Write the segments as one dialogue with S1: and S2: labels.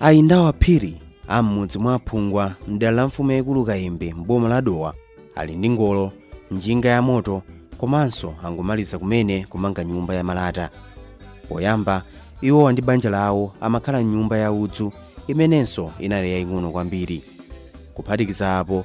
S1: a yindawo aphiri a m'mudzi mwa phungwa mdera la mfumu yaikulu kayembe m'boma la dowa ali ndi ngolo njinga ya moto komanso angomaliza kumene kumanga nyumba ya malata poyamba iwowa ndi banja lawo amakhala m'nyumba ya udzu imenenso inali yaying'ono kwambiri kuphatikiza apo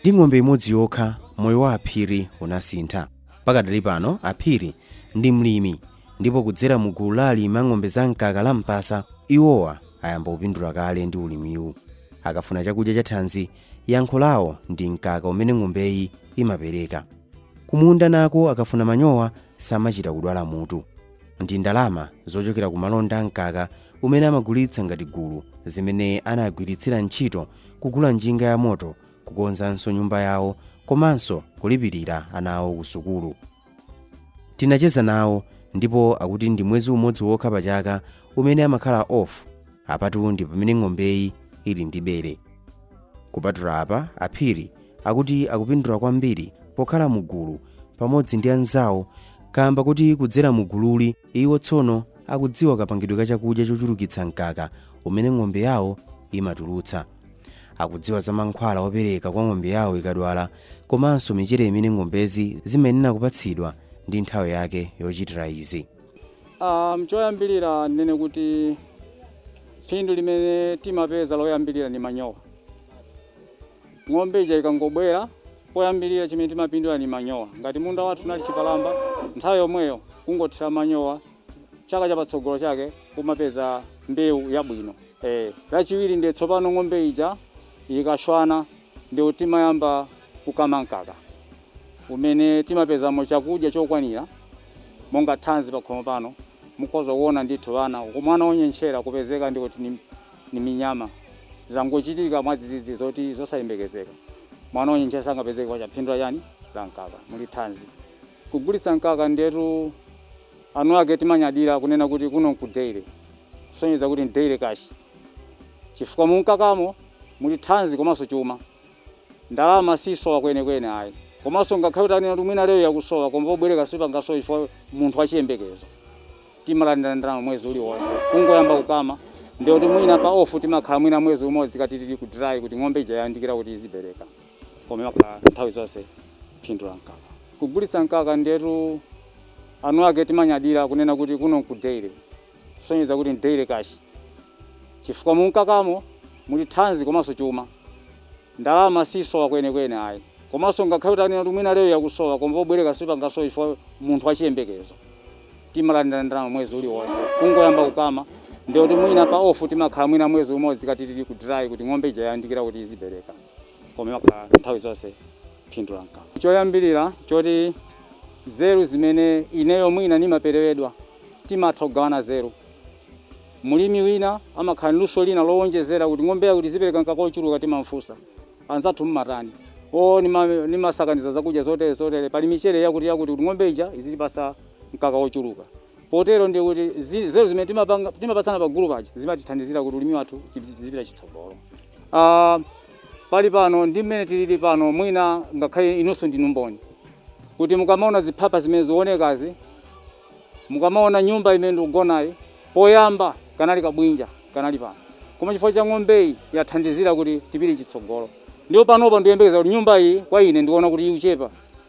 S1: ndi ng'ombe imodzi yokha moyo wa aphiri unasintha pakadali pano aphiri ndi mlimi ndipo kudzera mu gulu la alimi a ng'ombe za mkaka la mpasa iwowa ayamba kupindula kale ndi ulimiwu akafuna chakudya chathanzi Yankho lawo ndi mkaka umene ng'ombeyi imapereka. Kumunda nako akafuna manyowa samachita kudwala mutu. Ndi ndalama zochokera ku malonda a mkaka umene amagulitsa ngati gulu zimene anagwiritsira ntchito kugula njinga yamoto, kukonzanso nyumba yawo komanso kulipirira ana awo kusukulu. tinacheza nawo ndipo akuti ndi mwezi umodzi wokha pa chaka umene amakhala off apatu ndi pamene ng'ombeyi ili ndi bere kupatula apa aphiri akuti akupindula kwambiri pokhala mugulu pamodzi ndi anzawo kamba kuti kudzera mugululi iwo tsono akudziwa kapangidwe ka chakudya chochulukitsa mkaka umene ng'ombe yawo imatulutsa akudziwa za mankhwala opereka kwa ng'ombe yawo ikadwala komanso michere imene ng'ombezi zimayenera kupatsidwa ndi nthawi yake yochitira izi Um,
S2: choyambirira ndinene kuti phindu limene timapeza loyambirira ndi manyowa ng'ombe ija ikangobwera poyambirira chimene timapindula ndi manyowa ngati munda wathu unali chipalamba nthawi yomweyo kungothira manyowa chaka cha patsogolo chake kumapeza mbewu yabwino eh. Lachiwiri ndiye tsopano ng'ombe ija ikaswana ndiye timayamba kukama mkaka umene timapezamo chakudya chokwanira monga thanzi pakhomo pano mukhoza kuona ndithu ana mwana wonyentchera kupezeka ndi kuti ni, ni minyama zangochitika mwadzidzidzi zoti zosayembekezeka mwana wonyentchera sangapezeke chifukwa cha phindu la chani la mkaka muli thanzi Kugulitsa mkaka ndiyetu enuake timanyadira kunena kuti kuno nku dairy kusonyeza kuti ndi dairy cash chifukwa mumkakamo muli thanzi komanso chuma. Ndalama siyisowa kwenikweni ayi komanso ngakhale utanena kuti mwina lero yakusowa koma pobwereka sipangasowe chifukwa munthu wachiyembekezo timalandira ndalama mwezi uliwonse. Kungoyamba kukama ndiyekuti mwina pa off timakhala mwina mwezi umodzi tikati tili ku dry kuti ng'ombe ija yayandikira kuti izibereka. koma imakhala nthawi zonse phindu la mkaka. Kugulitsa mkaka ndiyetu aunt ake timanyadira kunena kuti kuno ku dairy kusonyeza kuti ndi dairy cash chifukwa mumkakamo muli thanzi komanso chuma. Ndalama sisowa kwenekwene ayi komanso ngakhale utanena kuti mwina lero yakusowa koma pobwereka sipangasowe chifukwa munthu uli ndi chiyembekezo timalandira ndalama mwezi uliwonse. Kungoyamba kukama ndiyekuti mwina pa off timakhala mwina mwezi umodzi tikati tili ku dry kuti ng'ombe ija yayandikira kuti izibereka. koma imakhala nthawi zonse phindu la mkaka. Choyambirira choti zeru zimene ineyo mwina nimaperewedwa timatha kugawana zeru. Mlimi wina amakhala ndi luso lina lowonjezera kuti ng'ombe yakuti izipereka mkaka wochuluka timamfunsa, anzathu mmatani? Oo nimasakaniza zakudya zotere zotere pali michere yakuti yakuti kuti ng'ombe ija izitipatsa mkaka wochuluka. Potero ndiye kuti zi- nzeru zimene timapanga- timapatsana pa gulu paja zimatithandizira kuti ulimi wathu tizipita chitsogolo Ah, pali pano ndi mmene tilili pano mwina ngakhale inunso ndinu mboni kuti mukamaona ziphapha zimene zionekazi mukamaona nyumba imene ndikugonayi poyamba kanali kabwinja kanali pano koma chifukwa cha ng'ombeyi yathandizira kuti tipite chitsogolo ndipo panopa ndiyembekeza kuti nyumba iyi kwa ine ndiona kuti ikuchepa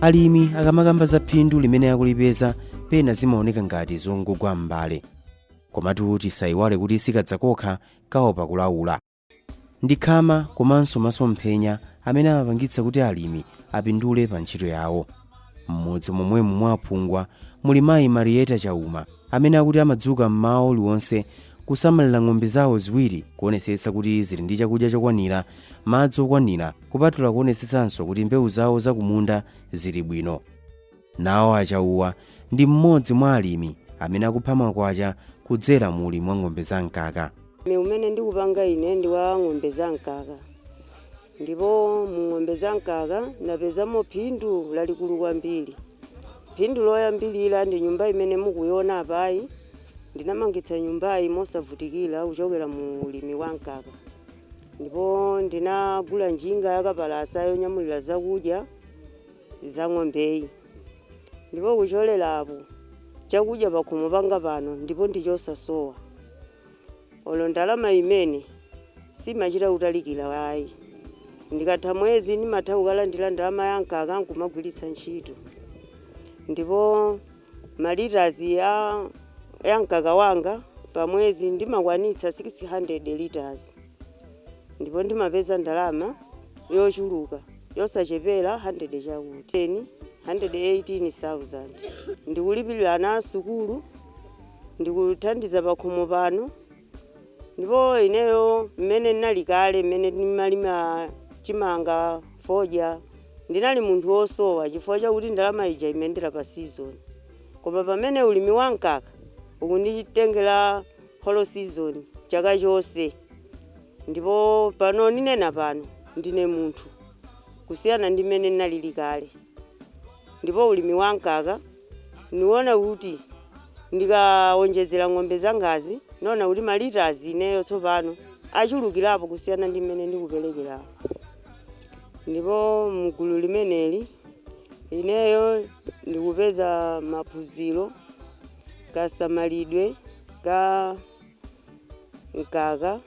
S1: alimi akamakamba za phindu limene akulipeza pena zimaoneka ngati zongogwa m'mbale komatu tisayiwale kuti sikadza kokha kaopa kulaula Ndi khama komanso masomphenya amene amapangitsa kuti alimi apindule pa ntchito yawo. M'mudzi momwemu mwa a Phungwa muli mayi Marieta Chauma amene akuti amadzuka m'mawa uliwonse kusamalira ng'ombe zawo ziwiri kuonesetsa kuti zili ndi chakudya chokwanira, madzi okwanira kupatula kuonesetsanso kuti mbewu zawo za kumunda zili bwino. Nawo a Chauma ndi mmodzi mwa alimi amene akupha makwacha kudzera mu ulimi wa ng'ombe za mkaka. Ulimi umene
S3: ndikupanga ine ndi wa ng'ombe za mkaka ndipo mu ng'ombe za mkaka ndapezamo phindu lalikulu kwambiri. Phindu loyambilira ndi nyumba imene mukuiona apayi. Ndinamangitsa nyumbayi mosavutikira kuchokera mu ulimi wa mkaka ndipo ndinagula njinga yakapalasa yonyamulira zakudya. za ng'ombeyi. Ndipo kuchokera apo, chakudya pakhomo panga pano ndipo ndi chosasowa. Olo ndalama imene simachita kutalikira ayi. Ndikatha mwezi ndimatha kukalandira ndalama ya mkaka nkumagwiritsa ntchito. Ndipo ma litres a ya mkaka wanga pa mwezi ndimakwanitsa 600 litres. ndipo ndimapeza ndalama yochuluka yosachepela 100 chakuti, 10, 118,000. Ndikulipilila ana sukulu, ndikuthandiza pakhomo pano, ndipo ineyo mmene nnali kale mmene ndimalima chimanga, fodya, ndinali munthu wosowa chifukwa chakuti ndalama ija imayendela pa season koma pamene ulimi wa mkaka ukunditengela whole season, chaka chonse ndipo pano ninena pano ndine munthu kusiyana ndi mmene nnalili kale ndipo ulimi wa mkaka niona kuti ndikaonjezera ng'ombe zangazi niona kuti ma litres ineyo tsopano achulukilapo kusiyana ndi mmene ndikupelekelamo ndipo mgulu limeneli ineyo ndikupeza maphunziro. kasamalidwe ka mkaka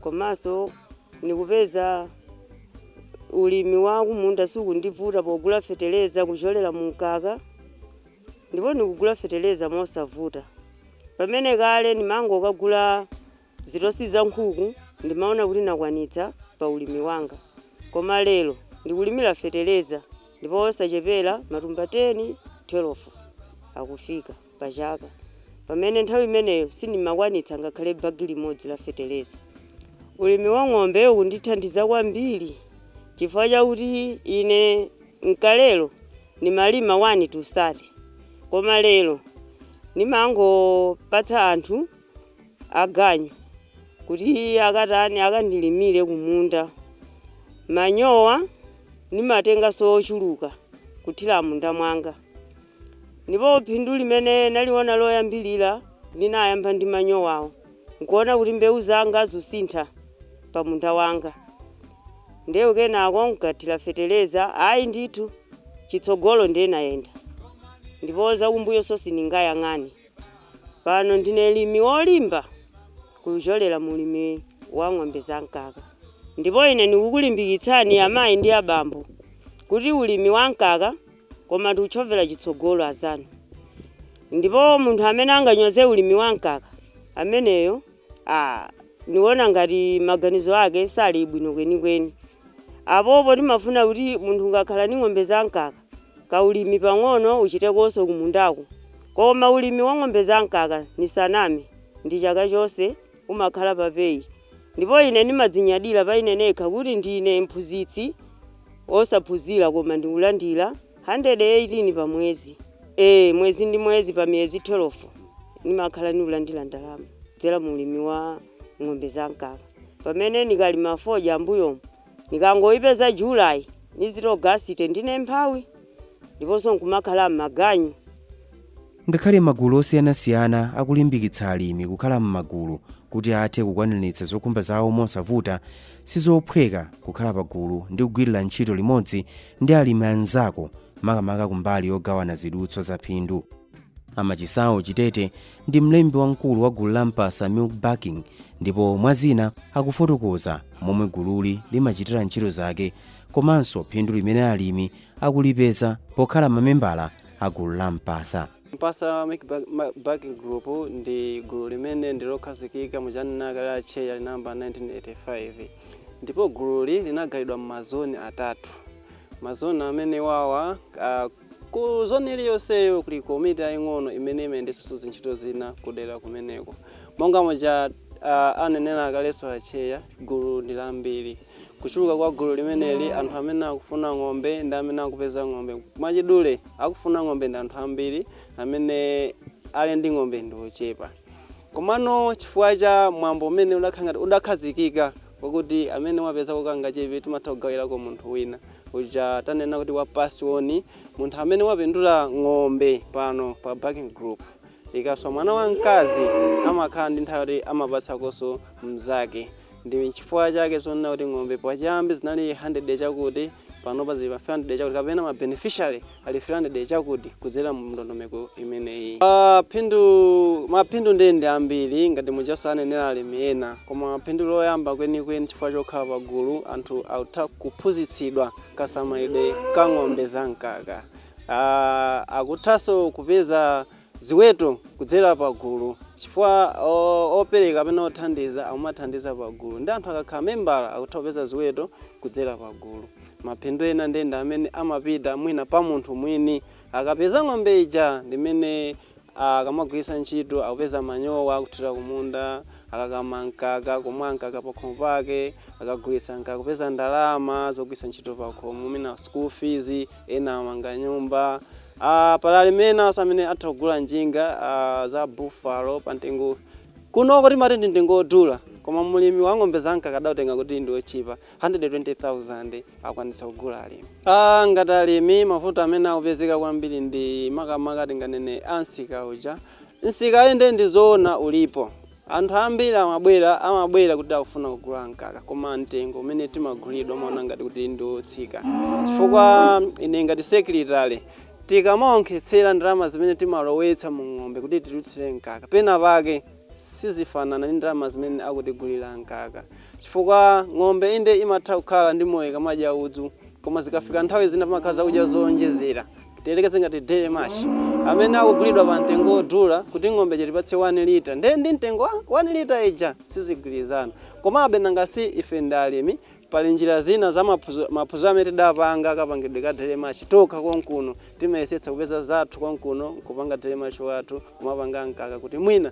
S3: komanso ndikupeza ulimi wa kumunda sukundivuta pogula feteleza kuchokera mu mkaka ndipo ndikugula feteleza mosavuta pamene kale ndimangokagula Zitosi za nkhuku ndimaona kuti nakwanitsa pa ulimi wanga koma lero ndikulimira fetereza ndipo osachepera matumba 10, 12 akufika pa chaka pamene nthawi imeneyo sindimakwanitsa ngakhale bagi limodzi la fetereza. Ulimi wa ng'ombe ukundithandiza kwambiri chifukwa chakuti ine n'kalelo ndimalima 1 to 30 koma lero ndimangopatsa anthu. aganyu kuti akatani akandilimire kumunda. Manyowa ndimatenganso ochuluka kuthira m'munda mwanga. Ndipo phindu limene ndaliona loyambirira linayamba ndi manyowawo n'kuona kuti mbewu zanga zusintha pamunda wanga. Ndiye kenako n'kathira fetereza. Ayi ndithu, chitsogolo ndiye nayenda ndipo zakumbuyonso sindingayang'ane. Pano ndine mlimi wolimba kuchokera mu ulimi wa ng'ombe za mkaka. Ndipo ine ndikukulimbikitsani amai ndi abambo kuti ulimi wa mkaka koma tiutchovere chitsogolo azanu. Ndipo munthu amene anganyoze ulimi wa mkaka ameneyo Aaa niona ngati maganizo ake sali bwino kwenikweni. Apopo timafuna kuti munthu ungakhale ndi ng'ombe za mkaka, kaulimi pang'ono uchitekonso kumundako. Koma ulimi wa ng'ombe za mkaka nisaname, ndi chaka chonse umakhala pa pay. Ndipo ine ndimadzinyadira pa ine nekha kuti ndine mphunzitsi wosaphunzira koma ndikulandira 118 pa mwezi ee mwezi ndi mwezi pa miyezi 12 nimakhala niulandila ndalama kudzela mu ulimi wa ng'ombe za mkaka pamene nikalima fodya mbuyomu nikangoipeza July nizati Ogasiti ndine mphawi ndiponso nkumakhala m'maganyu.
S1: Ngakhale magulu osiyanasiyana akulimbikitsa alimi kukhala m'magulu kuti athe kukwaniritsa zokhumba zawo mosavuta, sizophweka kukhala pagulu ndi kugwirira ntchito limodzi ndi alimi anzako makamaka kumbali yogawana zidutswa za phindu. A Machisawo Chitete ndi mlembi wamkulu wa gulu la Mpasa Milk Bulking ndipo mwa zina akufotokoza momwe gululi limachitira ntchito zake komanso phindu limene alimi akulipeza pokhala mamembala a gulu la Mpasa. Mpasa Milk Bulk-
S4: Ma- Bulk Group ndi gulu limene ndilokhazikika muja anena kale acheya linayamba 1985 ndipo gululi linagayidwa m'mazoni atatu mazoni amene wawa ah, ku zoni iliyonseyo kuli komiti yaying'ono imene imayendetsanso zintchito zina kudera kumeneko monga muja ah, anenera kalenso acheya gulu ndi lambiri Kuchuluka kwa gulu limeneli, anthu amene akufuna ng'ombe ndi amene akupeza ng'ombe. Mwachidule, akufuna ng'ombe ndi anthu ambiri, amene ali ndi ng'ombe ndi ochepa. Komano chifukwa cha mwambo umene udakhala ngati udakhazikika wakuti amene wapezako kangachepe timatha kugawirako munthu wina, uja tanena kuti wa pass on, munthu amene wapindula ng'ombe pano pa bulking group ikaswa mwana wamkazi amakhala ndi nthawi yoti amapatsakonso mnzake. Ndi chifukwa chake zonena kuti ng'ombe pachiyambi zinali handirede chakuti, panopa zili pa 300 chakuti kapena ma beneficiary ali 300 chakuti kudzera mu ndondomeko imeneyi. Phindu, Maphindu ndiye ndi ambiri ngati mujaso anenera alimi ena koma phindu loyamba kwenikweni chifukwa chokhala pagulu anthu akutha kuphunzitsidwa kasamalidwe ka ng'ombe za mkaka. Akuthanso kupeza. ziweto kudzera pa gulu chifukwa opereka kapena othandiza akumathandiza pa gulu ndiye anthu akakhala membala akutha kupeza ziweto kudzera pa gulu maphindu ena ndi ndi amene amapita mwina pa munthu mwini akapeza ng'ombe ija ndi imene akamagwiritsa ntchito akupeza manyowa akuthira kumunda akakama mkaka kumwa mkaka pakhomo pake akagulitsa mkaka kupeza ndalama zogwiritsa ntchito pakhomo mwina school fees ena amanga nyumba Pali alimi enaso amene atha kugula njinga za buffalo pa mtengo kunoko timati ndi mtengo wodula koma mulimi wa ng'ombe za mkaka adautenga kuti ndi wotchipa 120,000 akwanitsa kugula alimi. A ngati alimi mavuto amene akupezeka kwambiri ndi makamaka tinganene a msika uja. Msika inde ndi zoona ulipo. Anthu ambiri amabwera, amabwera kuti akufuna kugula mkaka, koma mtengo umene timagulidwa amaona ngati kuti ndi otsika. Chifukwa ine ngati secretary, tikamaonkhetsera ndalama zimene timalowetsa mu ng'ombe kuti titulutsire mkaka, pena pake sizifanana ndi ndalama zimene akutigulira mkaka. Chifukwa ng'ombe inde imatha kukhala ndi moyo ikamadya udzu, Koma zikafika nthawi zina pamakhala zakudya zoonjezera. Tiyerekeze ngati dairy mash amene akugulidwa pa mtengo wodula kuti ng'ombe ija itipatse 1 litre ndiye mtengo wa 1 litre ija sizigwirizana. Komabe nanga si ife ndi alimi, pali njira zina za maphunziro amene tidapanga akapangidwe ka dairy mash tokha konkuno timayesetsa kupeza zathu konkuno nkupanga dairy mash wathu kumapanga mkaka kuti mwina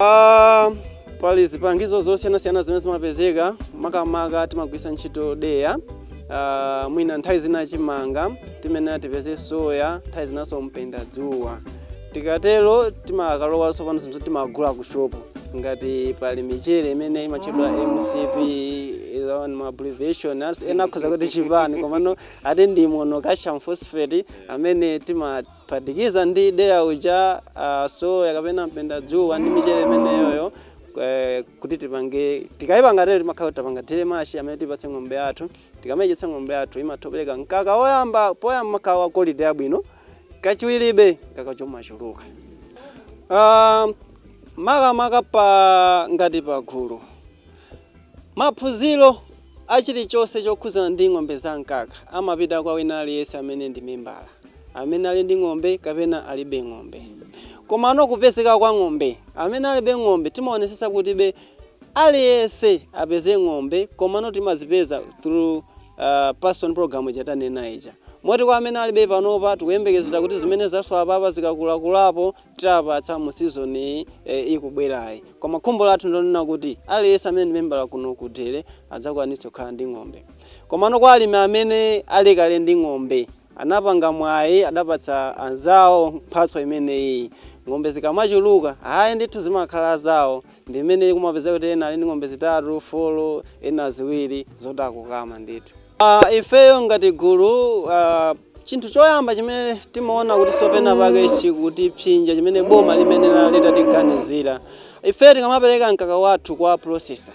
S4: Ah, pali zipangizo zosiyanasiyana zimene zimapezeka makamaka timagwisa ntchito deya ah, mwina nthawi zina chimanga timene tipeze soya nthawi zinanso mpenda dzuwa tikatero timakalowa sopano zinthu timagula ku shopu ngati pali michere imene imatchedwa mcp ma abbreviation ena akhoza kuti chipani komano ati ndi monocalcium phosphate amene tima Phatikiza ndi deya uja, soya kapena mpendadzuwa ndi michere imeneyoyo kuti tipange, tikaipanga tero timakhala kuti tapanga dairy mash amene tipatse ng'ombe yathu. Tikamaidyetsa ng'ombe yathu imatha kupereka mkaka woyamba, poyamba umakhala wa quality yabwino, kachiwiribe mkakacho umachuluka. Makamaka pa ngati pagulu, Maphunziro a chilichonse chokhudzana ndi ng'ombe za mkaka amapita kwa wina aliyense amene ndi membala, amene ali ndi ng'ombe kapena alibe ng'ombe. Komano kupezeka kwa ng'ombe, amene alibe ng'ombe timaonetsetsa kutibe aliyense apeze ng'ombe komano timazipeza through pass on program ija tanena ija. Moti kwa amene alibe panopa tikuyembekezera kuti zimene zaswa apapa zikakulakulapo tiwapatsa mu season iyi ikubwerayi koma khumbo lathu ndonena kuti aliyense amene ndi membala kuno ku dairy adzakwanitse kukhala ndi ng'ombe komano kwa alimi amene ali kale ndi ng'ombe anapanga mwayi adapatsa anzawo mphatso imeneyi ng'ombe zikamachuluka ayi ndithu zimakhala zawo ndi imene kumapeza kuti ena ali ndi ng'ombe zitatu folo ena ziwiri zoti akukama ndithu Uh, ifeyo ngati gulu uh, chinthu choyamba chimene timaona kuti sopena pake chikutipsinja chimene boma limene litatiganizira ifeyo tikamapereka mkaka wathu kwa processor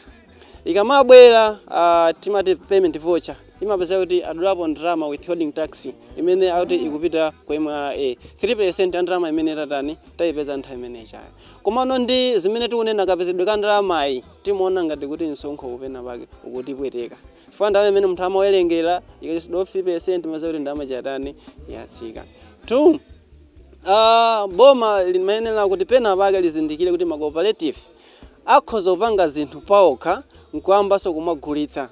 S4: ikamabwera uh, timati payment voucher imapezeka kuti adulapo ndalama withholding tax imene akuti ikupita ku mra 3% ya ndalama imene tatani tayipeza nthawi imene ijayo komano ndi zimene tikunena kapezedwe ka ndalamayi timaona ngati kuti msonkhowu pena pake ukutipweteka chifukwa ndalama imene munthu amawerengera ikatsitsidwa 50% mumadziwa kuti ndalama chatani yatsika 2 uh, ah, boma limayenera kuti pena pake lizindikire kuti macooperative akhoza kupanga zinthu paokha nkuyambanso kumagulitsa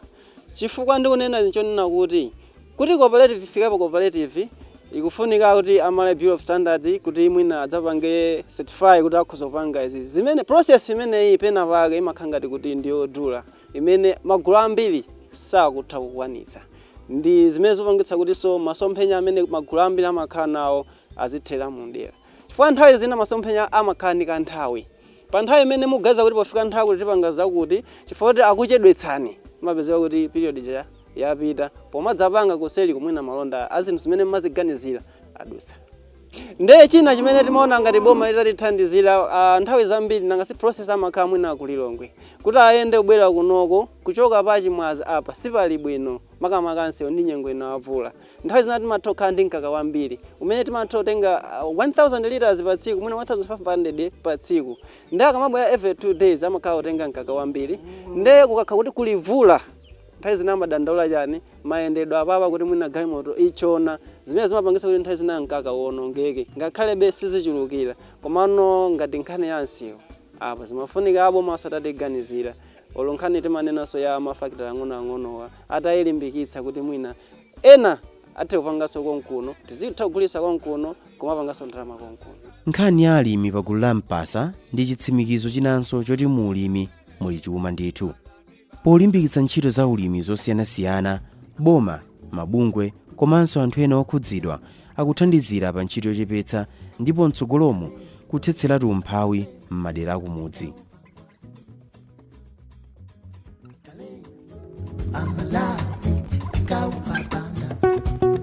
S4: chifukwa ndikunena chonena kuti cooperative ifikapo cooperative ikufunika kuti a Malawi Bureau of Standards kuti mwina adzapange certify kuti akhoza kupanga izi zimene process imeneyi pena pake imakhala ngati kuti ndiyodula imene magulu ambiri sakutha kukwanitsa. Ndi zimene zikupangitsa kutinso masomphenya amene magulu ambiri amakhala nawo azithera mumdera. Chifukwa nthawi zina masomphenya amakhala ndi kanthawi. Pa nthawi imene mukuganiza kuti pofika nthawi yakuti tipanga zakuti, chifukwa choti akuchedwetsani, imapezeka kuti period ija yapita. Pomadzapanga kuseliko mwina malonda a zinthu zimene mumaziganizira adutsa. Ndiye china chimene timaona ngati boma litatithandizira nthawi zambiri nanga si processor amakhala mwina ku Lilongwe kuti ayende kubwera kunoko kuchoka pa Chimwaza apa sipali bwino makamaka msewu ndi nyengo ino ya mvula nthawi zina timatha kukhala ndi mkaka wambiri umene timatha kutenga 1000 litres pa tsiku mwina 1500 pa tsiku ndiye akamabwera every two days amakhala kutenga mkaka wambiri ndiye kukakhala kuti kuli mvula nthawi zina amadandaula chani mayendedwe apapa kuti mwina galimoto itchona zimene zimapangitsa kuti nthawi zina mkaka uwonongeke ngakhalebe sizichulukila komano ngati nkhani ya msewu apa zimafunika abomanso atatiganizira olo nkhani timanenanso ya ma factory ang'onoang'onowa atailimbikitsa kuti mwina ena athe kupanganso konkuno tizitha kugulitsa konkuno kumapanganso ndalama konkuno. Nkhani ya alimi
S1: pagulu la Mpasa ndi chitsimikizo chinanso choti mu ulimi muli chuma ndithu. Polimbikitsa ntchito za ulimi zosiyanasiyana, boma, mabungwe komanso anthu ena okhudzidwa akuthandizira pa ntchito yochepetsa ndipo mtsogolomu kuthetseratu umphawi m'madera akumudzi.